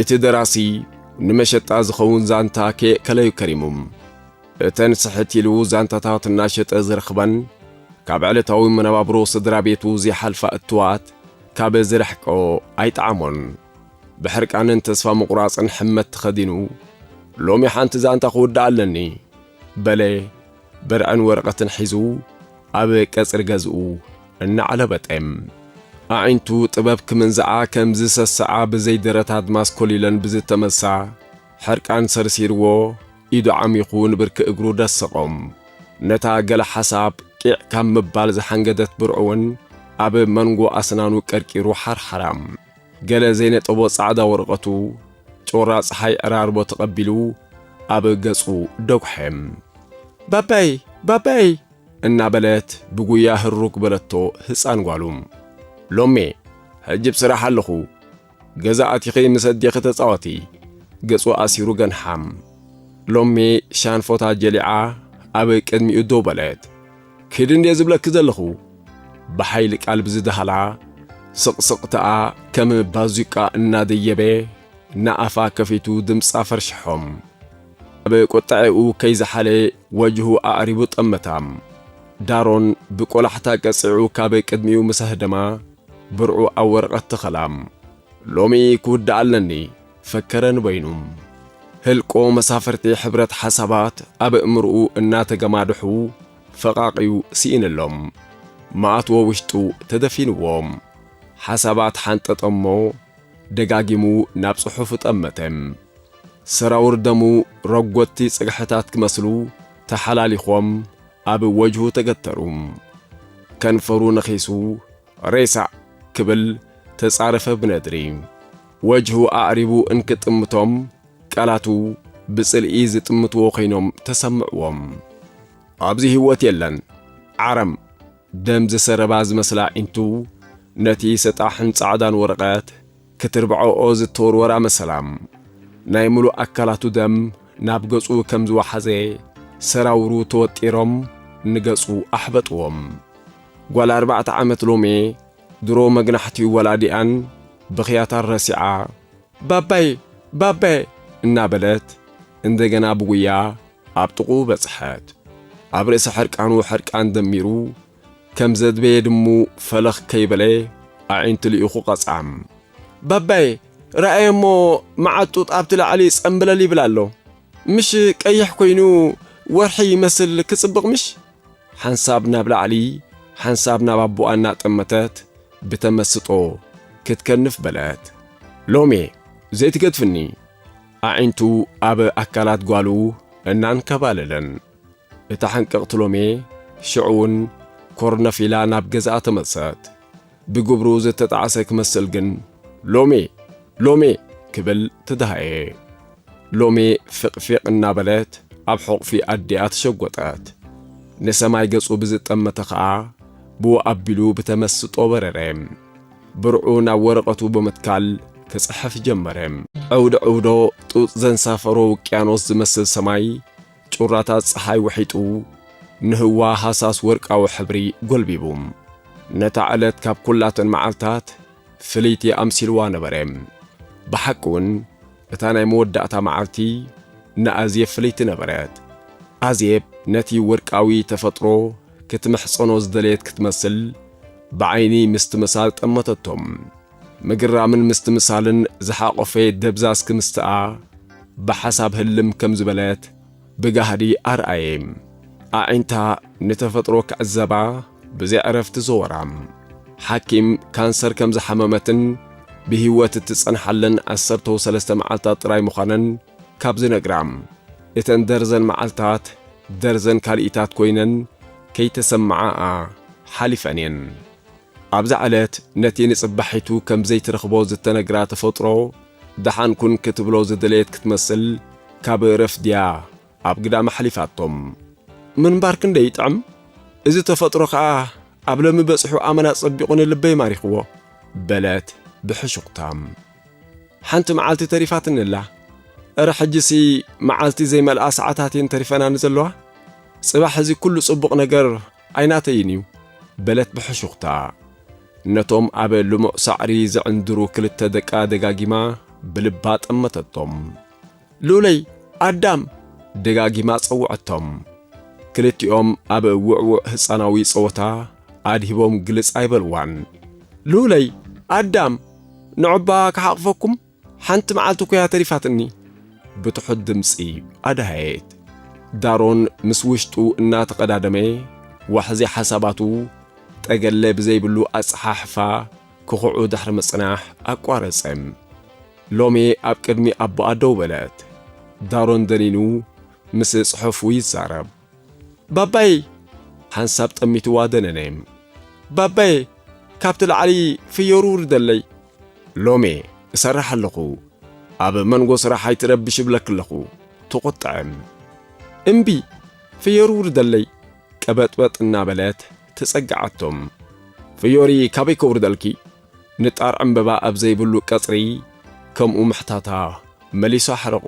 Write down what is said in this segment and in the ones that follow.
እቲ ደራሲ ንመሸጣ ዝኸውን ዛንታ ከየእከለዩ ከሪሙ። እተን ስሕት ኢሉ ዛንታታት እናሸጠ ዝረኽበን ካብ ዕለታዊ መነባብሮ ስድራ ቤቱ ዘይሓልፋ እትዋት ካብ ዝርሕቆ ኣይጠዓሞን። ብሕርቃንን ተስፋ ምቑራጽን ሕመት ተኸዲኑ፣ ሎሚ ሓንቲ ዛንታ ክውድኣ ኣለኒ። በለ። ብርዕን ወረቐትን ሒዙ ኣብ ቀጽሪ ገዝኡ እናዓለበጠ፣ ኣዒንቱ ጥበብ ክምንዝዓ ከም ዝሰስዓ ብዘይ ደረት ኣድማስ ኮሊለን ብዝተመሳ ሕርቃን ሰርሲርዎ ኢዱ ዓሚኹ ንብርኪ እግሩ ደሰቖ። ነታ ገለ ሓሳብ ቂዕ ካብ ምባል ዝሓንገደት ብርዕውን ኣብ መንጎ ኣስናኑ ቀርቂሩ ሓርሓራ። ገለ ዘይነጠቦ ጻዕዳ ወረቐቱ ጩራ ጸሓይ ዕራርቦ ተቐቢሉ ኣብ ገጹ ደጉሐ። ባባይ! ባባይ! እናበለት ብጉያ ህሩግ በለቶ ህጻን ጓሉ። ሎሜ! ሕጂ ብ ስራሕ ኣለኹ። ገዛ ኣቲኺ ምስ ኣዴኺ ተጻወቲ። ገጹ ኣሲሩ ገንሓ። ሎሜ ሻንፎታ ጀሊዓ ኣብ ቅድሚኡ ደው በለት። ክድ እንድየ ዝብለኪ ዘለኹ ብሓይሊ ቃል ብዝደሃላ ስቕስቕታኣ ከም ባዙቃ እናደየበ ንኣፋ ከፊቱ ድምጻ ፈርሽሖም ኣብ ቁጠዐኡ ከይዝሓለ ወጅሁ ኣዕሪቡ ጠመታ ዳሮን ብቆላሕታ ቀጺዑ ካብ ቅድሚኡ ምስ ኣህደማ ብርዑ ኣብ ወረቐት ተኸላ ሎሚ ክውዳእ ኣለኒ ፈከረ ንበይኑ። ህልቆ መሳፍርቲ ሕብረት ሓሳባት ኣብ እእምርኡ እናተገማድሑ ፈቓቒዩ ስኢንሎም። መኣትዎ ውሽጡ ተደፊንዎ። ሓሳባት ሓንጠጠ'ሞ ደጋጊሙ ናብ ጽሑፉ ጠመተ። ሰራውር ደሙ ረጎድቲ ጽግሕታት ክመስሉ ተሓላሊኾም ኣብ ወጅሁ ተገተሩ። ከንፈሩ ነኺሱ። ሬሳእ! ክብል ተጻረፈ ብነድሪ። ወጅሁ ኣዕሪቡ እንክጥምቶም፣ ቃላቱ ብጽልኢ ዝጥምትዎ ኮይኖም ተሰምዕዎም። ኣብዚ ህይወት የለን! ዓረም! ደም ዝሰረባ ዝመስላ ኣዒንቱ ነቲ ሰጣሕን ጻዕዳን ወረቐት ክትርብዖኦ ዝተወርወራ መሰላ ናይ ምሉእ ኣካላቱ ደም ናብ ገጹ ከም ዝወሓዘ ሰራውሩ ተወጢሮም ንገጹ ኣሕበጥዎም። ጓል ኣርባዕተ ዓመት ሎሜ ድሮ መግናሕቲ ወላዲኣን ብኽያታን ረሲዓ ባባየ ባባየ እናበለት እንደገና ብጉያ ኣብ ጥቕኡ በጽሐት። ኣብ ርእሲ ሕርቃኑ ሕርቃን ደሚሩ ከም ዘድበየ ድሙ ፈለኽ ከይበለ ኣዒንቱ ልኢኹ ቀጽዓም። ባባየ ረኣየ እሞ መዓት ጡጥ ኣብቲ ላዕሊ ጸምብለል ይብል ኣሎ። ምሽ ቀይሕ ኮይኑ ወርሒ ይመስል ክጽብቕ ምሽ? ሓንሳብ ናብ ላዕሊ ሓንሳብ ናብ ኣቦኣ እናጠመተት ብተመስጦ ክትከንፍ በለት። ሎሜ ዘይትገድፍኒ? ኣዒንቱ ኣብ ኣካላት ጓሉ እናንከባለለን። እታ ሕንቅቕቲ ሎሜ ሽዑ'ውን ኮርነፍ ኢላ ናብ ገዛኣ ተመልሰት። ብግብሩ ዝተጣዕሰ ክመስል ግን ሎሜ! ሎሜ! ክብል ተደሃየ። ሎሜ ፊቕፊቕ እናበለት ኣብ ሕቝፊ ኣዲኣ ተሸጐጠት። ንሰማይ ገጹ ብዝጠመተ ከኣ ብኡ ኣቢሉ ብተመስጦ በረረ። ብርዑ ናብ ወረቐቱ ብምትካል ክጽሕፍ ጀመረ። ዕውድዕውዶ ጡጥ ዘንሳፈሮ ውቅያኖስ ዝመስል ሰማይ፣ ጩራታት ጸሓይ ውሒጡ፣ ንህዋ ሃሳስ ወርቃዊ ሕብሪ ጎልቢቡ፣ ነታ ዕለት ካብ ኩላተን መዓልታት ፍልይቲ ኣምሲልዋ ነበረ። ብሓቂውን እታ ናይ መወዳእታ መዓልቲ ንኣዜብ ፍልይቲ ነበረት። ኣዜብ ነቲ ወርቃዊ ተፈጥሮ ክትምሕጸኖ ዝደለየት ክትመስል ብዓይኒ ምስትምሳል ጠመተቶ። ምግራምን ምስትምሳልን ዝሓቖፈ ደብዛዝ ክምስታኣ ብሓሳብ ህልም ከም ዝበለት ብጋህዲ ኣርኣየ። ኣዒንታ ንተፈጥሮ ክዕዘባ ብዘይ ዕረፍቲ ዘወራ። ሓኪም ካንሰር ከም ዝሓመመትን ብህይወት እትጸንሓለን ዓሰርተው ሰለስተ መዓልታት ጥራይ ምዃነን ካብ ዝነግራ፣ እተን ደርዘን መዓልታት ደርዘን ካልኢታት ኮይነን ከይተሰምዓኣ ሓሊፈን'የን። ኣብዛ ዕለት ነቲ ንጽባሒቱ ከም ዘይትረኽቦ ዝተነግራ ተፈጥሮ ደሓን ኩን ክትብሎ ዝደለየት ክትመስል ካብ ረፍድያ ኣብ ግዳም ኣሕሊፋቶም ምንባር ክንደይ ይጥዕም እዚ ተፈጥሮ ከኣ ኣብ ሎሚ በጺሑ ኣመና ጸቢቑ ንልበይ ማሪኽዎ በለት ብሕሹኽታ ሓንቲ መዓልቲ ተሪፋትኒ ኣላ እረ ሕጂሲ መዓልቲ ዘይመልኣ ሰዓታት እየን ተሪፈናኒ ዘለዋ ጽባሕ እዚ ኩሉ ጽቡቕ ነገር ኣይናተይን እዩ በለት ብሕሹኽታ። ነቶም ኣብ ልሙዕ ሳዕሪ ዝዕንድሩ ክልተ ደቃ ደጋጊማ ብልባ ጠመተቶም። ሉለይ! ኣዳም! ደጋጊማ ጸውዐቶም። ክልቲኦም ኣብ ውዕዉዕ ህጻናዊ ጸወታ ኣድሂቦም ግልጽ ኣይበልዋን። ሉለይ! ኣዳም! ንዑ'ባ ክሓቕፈኩም? ሓንቲ መዓልቲ እኮ'ያ ተሪፋትኒ። ብትሑት ድምጺ ኣድሃየት። ዳሮን ምስ ውሽጡ እናተቐዳደመ፣ ዋሕዚ ሓሳባቱ ጠገለ ብዘይብሉ ኣጸሓሕፋ ክኹዑ ድሕሪ ምጽናሕ ኣቋረጸ። ሎሜ ኣብ ቅድሚ ኣቦኣ ደው በለት። ዳሮን ደኒኑ ምስ ጽሑፉ ይዛረብ። ባባየይ! ሓንሳብ ጠሚትዋ ደነነ። ባባየ! ካብቲ ላዕሊ ፍዮሩ ውርደለይ። ሎሜ እሰርሕ ኣለኹ፣ ኣብ መንጎ ስራሕ ኣይትረብሽ እብለኪ ኣለኹ። ተቖጠዐ። እምቢ! ፍዮሩ ውርደለይ! ቀበጥበጥ እናበለት ተጸግዓቶ። ፍዮሪ ካበይ ከውርደልኪ? ንጣር ዕምበባ ኣብ ዘይብሉ ቀጽሪ ከምኡ ምሕታታ መሊሱ ኣሕረቖ።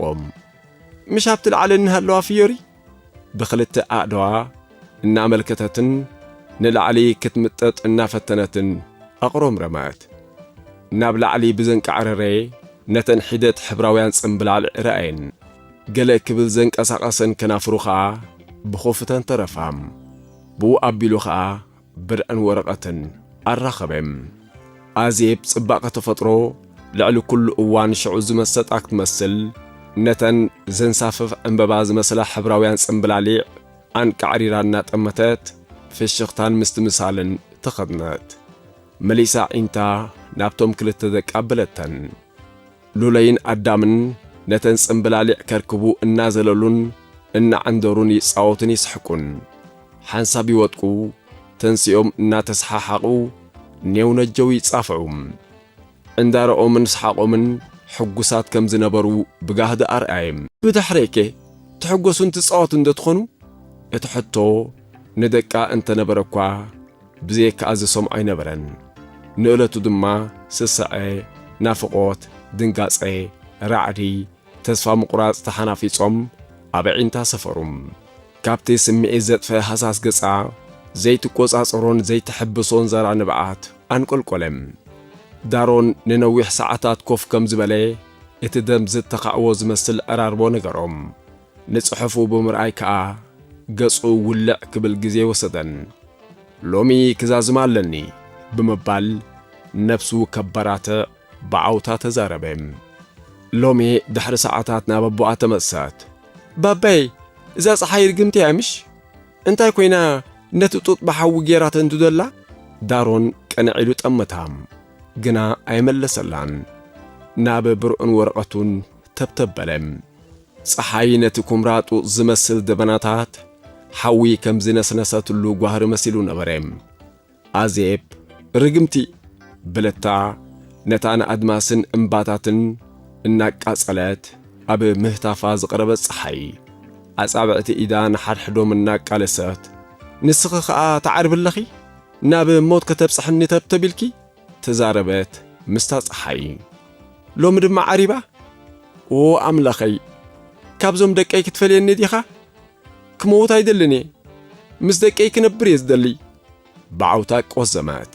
ምሽ ኣብቲ ላዕሊ እንሃለዋ ፍዮሪ ብኽልተ ኣእዳዋ እናመልከተትን ንላዕሊ ክትምጠጥ እናፈተነትን ኣቕሮምረመት። ናብ ላዕሊ ብዘንቃዕረረ ነተን ሒደት ሕብራውያን ጽምብላል ረኣየን። ገለ ክብል ዘንቀሳቐሰን ከናፍሩ ከኣ ብኹፍተን ተረፋ። ብኡ ኣቢሉ ከኣ ብርዕን ወረቐትን ኣራኸበ። ኣዜብ ጽባቐ ተፈጥሮ ልዕሊ ኩሉ እዋን ሽዑ ዝመሰጣ ክትመስል፣ ነተን ዘንሳፍፍ ዕምበባ ዝመስላ ሕብራውያን ጽምብላሊዕ ኣንቃዕሪራ እናጠመተት ፍሽኽታን ምስትምሳልን ተኸድነት። መሊሳ ኣዒንታ ናብቶም ክልተ ደቃ ኣበለተን። ሉለይን ኣዳምን ነተን ጽምብላሊዕ ከርክቡ እናዘለሉን እናዓንደሩን ይጻወቱን ይስሕቁን። ሓንሳብ ይወድቁ፣ ተንሲኦም እናተሰሓሓቑ ኔው ነጀው ይጻፍዑ። ዕንዳረኦምን ስሓቖምን ሕጉሳት ከም ዝነበሩ ብጋህዲ ኣርኣየ። ብድሕረይከ ትሕጎሱን ትጻወቱንዶ ትኾኑ? እቲ ሕቶ ንደቃ እንተነበረኳ፣ ብዘየካ'ዚ ሰም ኣይነበረን። ንእለቱ ድማ ስሰዐ፣ ናፍቖት፣ ድንጋጸ፣ ራዕዲ፣ ተስፋ ምቑራጽ ተሓናፊጾም ኣብ ኣዒንታ ሰፈሩ። ካብቲ ስምዒት ዘጥፈ ሃሳስ ገጻ ዘይትቆጻጸሮን ዘይተሐብሶን ዛራ ንብዓት ኣንቆልቆለ። ዳሮን ንነዊሕ ሰዓታት ኮፍ ከም ዝበለ እቲ ደም ዝተኻዕዎ ዝመስል ዕራርቦ ነገሮም። ንጽሑፉ ብምርኣይ ከኣ ገጹ ውልዕ ክብል ግዜ ኣይወሰደን። ሎሚ ክዛዝም ኣለኒ ብምባል ነብሱ ከበራትዕ ብዓውታ ተዛረበ። ሎሚ ድሕሪ ሰዓታት ናብ ኣቦኣ ተመልሰት። ባባየ እዛ ጸሓይ ርግምቲ እያ ምሽ? እንታይ ኮይና ነቲ ጡጥ ብሓዊ ጌራ ተንድዶ'ላ? ዳሮን ቅንዕ ኢሉ ጠመታ። ግና ኣይመለሰላን። ናብ ብርዑን ወረቐቱን ተብተብ በለ። ጸሓይ ነቲ ኵምራ ጡጥ ዝመስል ደበናታት ሓዊ ከም ዝነስነሰትሉ ጓህሪ መሲሉ ነበረ። ኣዜብ፣ ርግምቲ! በለታ፣ ነታ ንኣድማስን እምባታትን እናቃጸለት ኣብ ምህታፋ ዝቐረበት ጸሓይ ኣጻብዕቲ ኢዳ ንሓድሕዶም እናቃለሰት። ንስኺ ኸኣ ትዓርቢ ኣለኺ? ናብ ሞት ከተብጽሕኒ ተብተብ ኢልኪ? ተዛረበት ምስታ ጸሓይ ሎሚ ድማ ዓሪባ ኦ ኣምላኸይ ካብዞም ደቀይ ክትፈልየኒ ዲኻ ክመውት ኣይደልን እየ ምስ ደቀይ ክነብር እየ ዝደሊ ብዓውታ ቆዘመት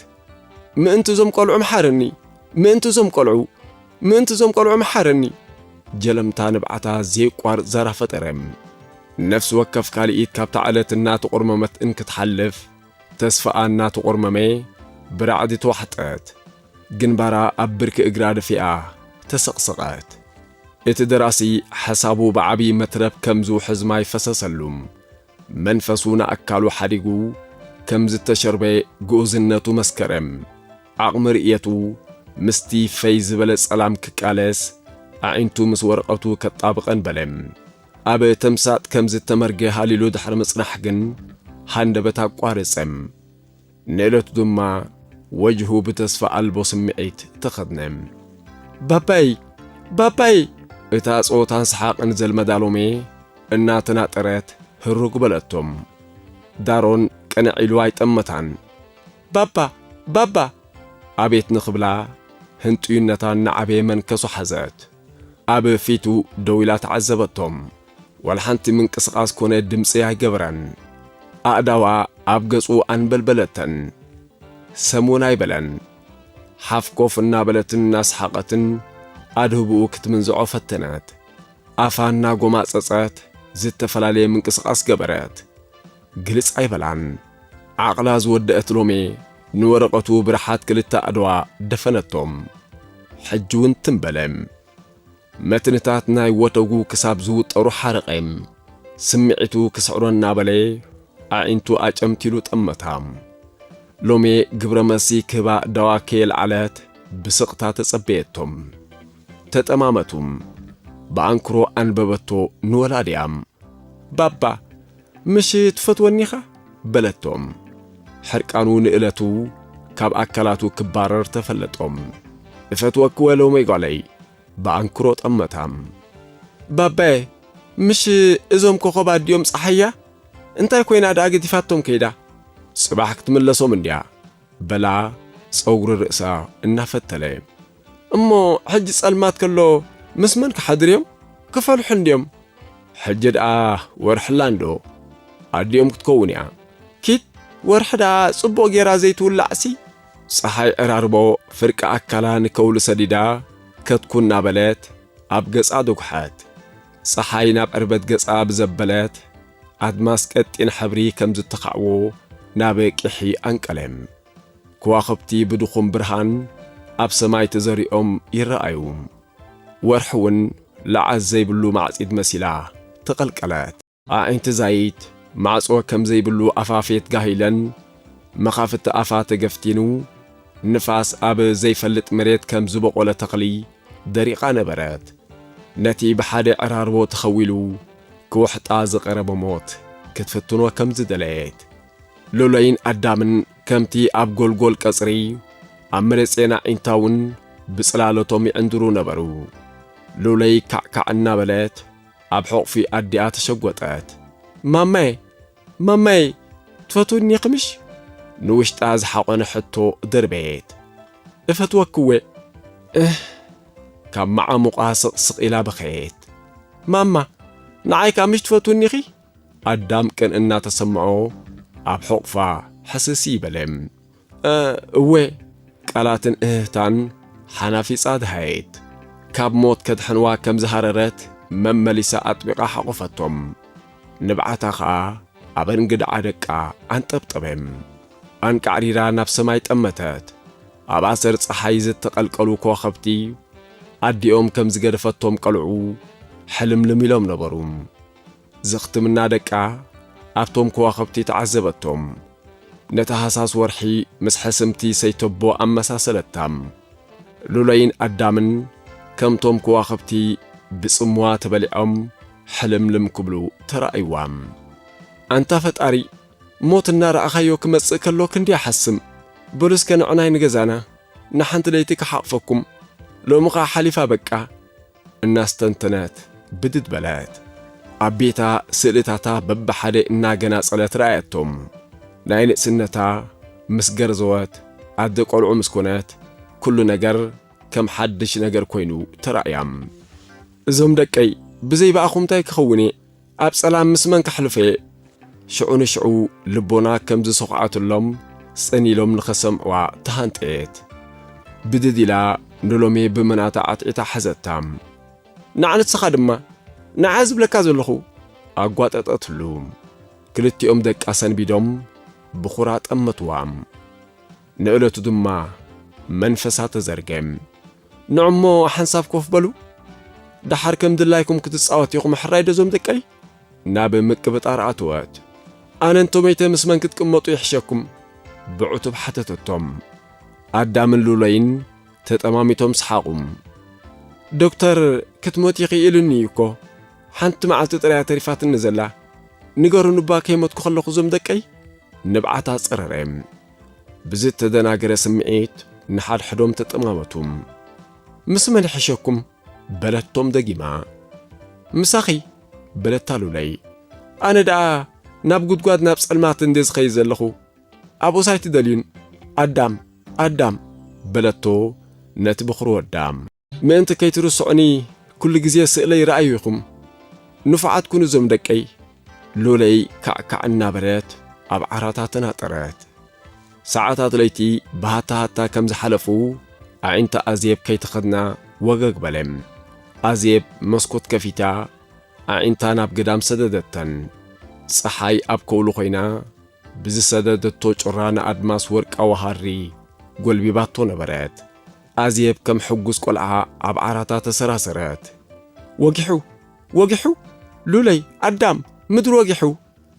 ምእንቲ እዞም ቆልዑ መሓረኒ ምእንቲ እዞም ቆልዑ ምእንቲ እዞም ቆልዑ መሓረኒ ጀለምታ ንብዓታ ዘየቋርጽ ዛራ ፈጠረ ነፍሲ ወከፍ ካልኢት ካብታ ዕለት እናተቖርመመት እንክትሓልፍ ተስፋኣ እናተቖርመመ ብራዕዲ ተዋሕጠት። ግንባራ ኣብ ብርኪ እግራ ደፊኣ ተሰቕሰቐት። እቲ ደራሲ ሓሳቡ ብዓብዪ መትረብ ከም ዝውሕዝ ማይ ፈሰሰሉ። መንፈሱ ንኣካሉ ሓዲጉ ከም ዝተሸርበ ግኡዝነቱ መስከረ። ዓቕሚ ርእየቱ ምስቲ ፈይ ዝበለ ጸላም ክቃለስ፣ ኣዒንቱ ምስ ወረቐቱ ከጣብቐን በለ። ኣብ ተምሳጥ ከም ዝተመርገ ሃሊሉ ድሕሪ ምጽናሕ ግን ሃንደበት ኣቋረጸ። ንእለቱ ድማ ወጅሁ ብተስፋ ኣልቦ ስምዒት ተኸድነ። ባባይ! ባባይ! እታ ጸወታን ሰሓቕን ዘልመዳ ሎሜ እናተናጠረት ህሩግ በለቶም። ዳሮን ቅንዕ ኢሉ ኣይጠመታን። ባባ! ባባ! ኣቤት ንኽብላ ህንጡይነታ እናዓበየ መንከሱ ሓዘት። ኣብ ፊቱ ደው ኢላ ተዓዘበቶም። ዋላ ሓንቲ ምንቅስቓስ ኮነ ድምጺ ኣይገበረን። ኣእዳዋ ኣብ ገጹ ኣንበልበለተን። ሰም እውን ኣይበለን። ሓፍ ኮፍ እናበለትን እናሰሓቐትን ኣድህቦኡ ክትምንዝዖ ፈተነት። ኣፋ እናጎማጸጸት ዝተፈላለየ ምንቅስቓስ ገበረት። ግልጽ ኣይበላን። ዓቕላ ዝወደኣት ሎሜ ንወረቐቱ ብርሓት ክልተ ኣእድዋ ደፈነቶም። ሕጂውን ትም በለ። መትንታት ናይ ወተጉ ክሳብ ዝውጠሩ ሓረቐ። ስምዒቱ ክስዕሮ እናበለ ኣዒንቱ ኣጨምቲሉ ጠመታ። ሎሜ ግብረ መልሲ ክህባ ኣእዳዋ ከየልዓለት ብስቕታ ተጸበየቶም። ተጠማመቱ። ብኣንክሮ ኣንበበቶ ንወላዲኣ። ባባ! ምሽ ትፈትወኒ ኢኻ? በለቶ። ሕርቃኑ ንእለቱ ካብ ኣካላቱ ክባረር ተፈለጦ። እፈትወኪ ወ ሎመይ ጓለይ! ብኣንክሮ ጠመታ። ባባየ! ምሽ እዞም ኮኾብ ኣዲኦም ጸሓያ እንታይ ኮይና ደኣ ገዲፋቶም ከይዳ? ጽባሕ ክትምለሶም እንድያ። በላ ጸጉሪ ርእሳ እናፈተለ። እሞ ሕጂ ጸልማት ከሎ ምስ መን ክሓድር እዮም? ክፈልሑ እንድዮም። ሕጂ ደኣ ወርሕላ እንዶ ኣዲኦም ክትከውን እያ። ኪድ ወርሒ ደኣ ጽቡቕ ጌራ ዘይትውላዕሲ። ጸሓይ ዕራርቦ ፍርቂ ኣካላ ንከውሊ ሰዲዳ ከትኩ እናበለት ኣብ ገጻ ደጉሓት። ጸሓይ ናብ ዕርበት ገጻ ብዘበለት፣ ኣድማስ ቀጢን ሕብሪ ከም ዝተኻዕዎ ናብ ቂሒ ኣንቀለ። ክዋኽብቲ ብድኹም ብርሃን ኣብ ሰማይ ተዘሪኦም ይረኣዩ። ወርሒ እውን ለዓል ዘይብሉ ማዕጺድ መሲላ ተቐልቀለት። ኣዒንቲ ዛይት ማዕጾ ከም ዘይብሉ ኣፋፌት ጋሂለን፣ መኻፍቲ ኣፋ ተገፍቲኑ፣ ንፋስ ኣብ ዘይፈልጥ መሬት ከም ዝበቖለ ተኽሊ ደሪቓ ነበረት። ነቲ ብሓደ ዕራርቦ ተኸዊሉ ክውሕጣ ዝቐረበ ሞት ክትፍትኖ ከም ዝደለየት፣ ሎሎይን ኣዳምን ከምቲ ኣብ ጎልጎል ቀጽሪ ኣብ መለጼን ኣዒንታውን ብጽላለቶም ይዕንድሩ ነበሩ። ሎሎይ ካዕካዕ እናበለት ኣብ ሕቝፊ ኣዲኣ ተሸጐጠት። ማማየ! ማማየ ትፈትውኒኺ ምሽ? ንውሽጣ ዝሓቖነ ሕቶ ደርበየት። እፈትወኪ'ወ። እህ! ካብ መዓሙቓ ስቕስቕ ኢላ በኸየት። ማማ! ንዓይ ከኣ ምሽ ትፈትውኒኺ? ኣዳም ቅን እናተሰምዖ ኣብ ሕቑፋ ሕስሲ በለ። እወ ቃላትን እህህታን ሓናፊጻ ደሃየት። ካብ ሞት ከድሕንዋ ከም ዝሃረረት መመሊሳ ኣጥቢቓ ሓቖፈቶም። ንብዓታ ከኣ ኣብ እንግድዓ ደቃ ኣንጠብጠበ። ኣንቃዕሪራ ናብ ሰማይ ጠመተት። ኣብ ኣሰር ጸሓይ ዝተቐልቀሉ ከዋኸብቲ ኣዲኦም ከም ዝገደፈቶም ቀልዑ ሕልምልም ኢሎም ነበሩ። ዘኽትምና ደቃ ኣብቶም ከዋኽብቲ ተዓዘበቶም። ነታ ሃሳስ ወርሒ ምስ ሕስምቲ ሰይተቦ ኣመሳሰለታ። ሉለይን ኣዳምን ከምቶም ከዋኽብቲ ብጽምዋ ተበሊዖም ሕልምልም ክብሉ ተራእይዋ። ኣንታ ፈጣሪ ሞት እናረኣኻዮ ክመጽእ ከሎ ክንድያ ሓስም። በሉ እስከ ንዕናይ ንገዛና ንሓንቲ ለይቲ ክሓቕፈኩም። ሎሚ ከኣ ሓሊፋ በቃ። እናስተንተነት ብድድ በለት። ኣብ ቤታ ስእልታታ በብሓደ እናገናጸለት ረኣየቶም። ናይ ንእስነታ ምስ ገርዘወት ኣደ ቆልዑ ምስ ኮነት ኩሉ ነገር ከም ሓድሽ ነገር ኮይኑ ተራእያ። እዞም ደቀይ ብዘይ ብኣኹም ታይ ክኸውን'የ ኣብ ጸላም ምስ መን ከሕልፎ'የ? ሽዑ ንሽዑ ልቦና ከም ዝሰዂዓትሎም ጽን ኢሎም ንኸሰምዕዋ ተሃንጠየት። ብድድ ኢላ ንሎሜ ብምናታ ዓትዒታ ሓዘታ። ንዓ ንስኻ ድማ ንዓ ዝብለካ ዘለኹ! ኣጓጠጠትሉ። ክልቲኦም ደቃ ሰንቢዶም ብኹራ ጠመትዋ። ንእለቱ ድማ መንፈሳ ተዘርገ። ንዑ'ሞ ሓንሳብ ኮፍ በሉ፣ ደሓር ከም ድላይኩም ክትጻወት ኢኹም ሕራይ'ዶ እዞም ደቀይ? ናብ ምቅብጣር ኣተወት። ኣነ እንተ መይተ ምስ መን ክትቅመጡ ይሕሸኩም? ብዕቱብ ሓተተቶም። ኣዳምን ሉለይን ተጠማሚቶም ሰሓቑ። ዶክተር ክትሞቲ ኢኺ ኢሉኒ እዩ እኮ፣ ሓንቲ መዓልቲ ጥራይ'ያ ተሪፋትኒ ዘላ፣ ንገሩኒ'ባ ከይሞትኩ ከለኹ እዞም ደቀይ? ንብዓታ ጸረረ። ብዝተደናገረ ስምዒት ንሓድሕዶም ተጠማመቱ። ምስ መን ይሕሸኩም? በለቶም ደጊማ። ምሳኺ በለታ ሉለይ። ኣነ ደኣ ናብ ጉድጓድ ናብ ጸልማት እንድየ ዝኸይድ ዘለኹ፣ ኣብኡስ ኣይትደልዩን ኣዳም ኣዳም በለቶ ነቲ ብኹሪ ወዳ። ምእንቲ ከይትርስዑኒ ኩሉ ግዜ ስእለይ ረኣዩ ኢኹም ንፉዓት ኩኑ ዞም ደቀይ። ሉለይ ካዕካዕ እናበለት ኣብ ዓራታ ተናጠረት። ሰዓታት ለይቲ ብሃታ ሃታ ከም ዝሓለፉ ኣዒንቲ ኣዜብ ከይተኸድና ወገግ በለ። ኣዜብ መስኮት ከፊታ ኣዒንታ ናብ ግዳም ሰደደተን። ጸሓይ ኣብ ከውሊ ኮይና ብዝሰደደቶ ጩራ ንኣድማስ ወርቃዊ ሃሪ ጎልቢባቶ ነበረት። ኣዜብ ከም ሕጉስ ቆልዓ ኣብ ዓራታ ተሰራሰረት። ወጊሑ! ወጊሑ! ሉለይ! ኣዳም! ምድሪ ወጊሑ!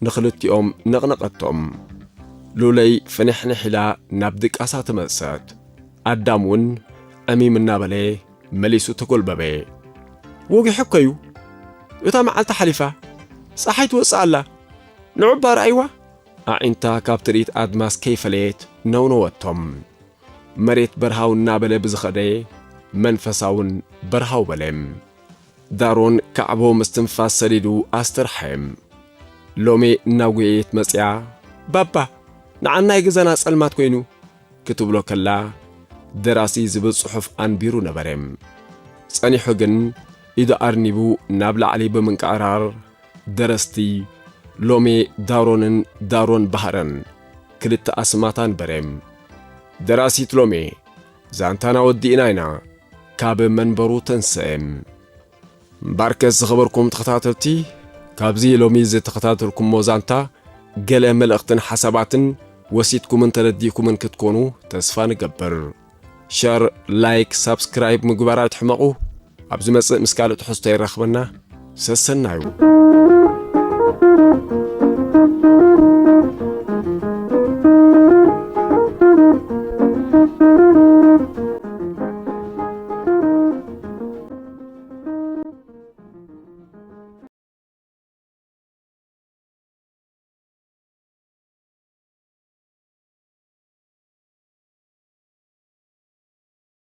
ንኽልቲኦም ነቕነቐቶም። ሉለይ ፍንሕንሕ ኢላ ናብ ድቃሳ ተመልሰት። ኣዳም እውን ዕሚም እናበለ መሊሱ ተጎልበበ። ወጊሑ እኮ እዩ! እታ መዓልቲ ሓሊፋ! ፀሓይ ትወፅእ ኣላ! ንዑ እባ ርኣይዋ! ኣዒንታ ካብ ትርኢት ኣድማስ ከይፈለየት ነውነወቶም። መሬት በርሃው እናበለ ብዝኸደ መንፈሳውን በርሃው በሌም ዳሮን ካዕቦ ምስትንፋስ ሰዲዱ ኣስተርሓዬም። ሎሜ እናጎየየት መጺኣ ባባ ንዓ ናይ ገዛና ጸልማት ኮይኑ ክትብሎ ከላ ደራሲ ዝብል ጽሑፍ ኣንቢሩ ነበሬም። ጸኒሑ ግን ኢዱ ኣርኒቡ ናብ ላዕሊ ብምንቅዕራር ደረስቲ ሎሜ ዳሮንን ዳሮን ባህረን ክልተ ኣስማት ኣንበሬም። ደራሲት ሎሜ ዛንታና ወዲእና ኢና ካብ መንበሩ ተንሰኤ። እምበኣርከስ ዝኸበርኩም ተኸታተልቲ ካብዚ ሎሚ ዝተኸታተልኩሞ ዛንታ ገለ መልእኽትን ሓሳባትን ወሲድኩምን ተረዲእኩምን ክትኮኑ ተስፋ ንገብር። ሸር፣ ላይክ፣ ሳብስክራይብ ምግባር ኣይትሕመቑ። ኣብ ዝመጽእ ምስ ካልእ ትሕዝቶ የራኽበና ሰሰናዩ።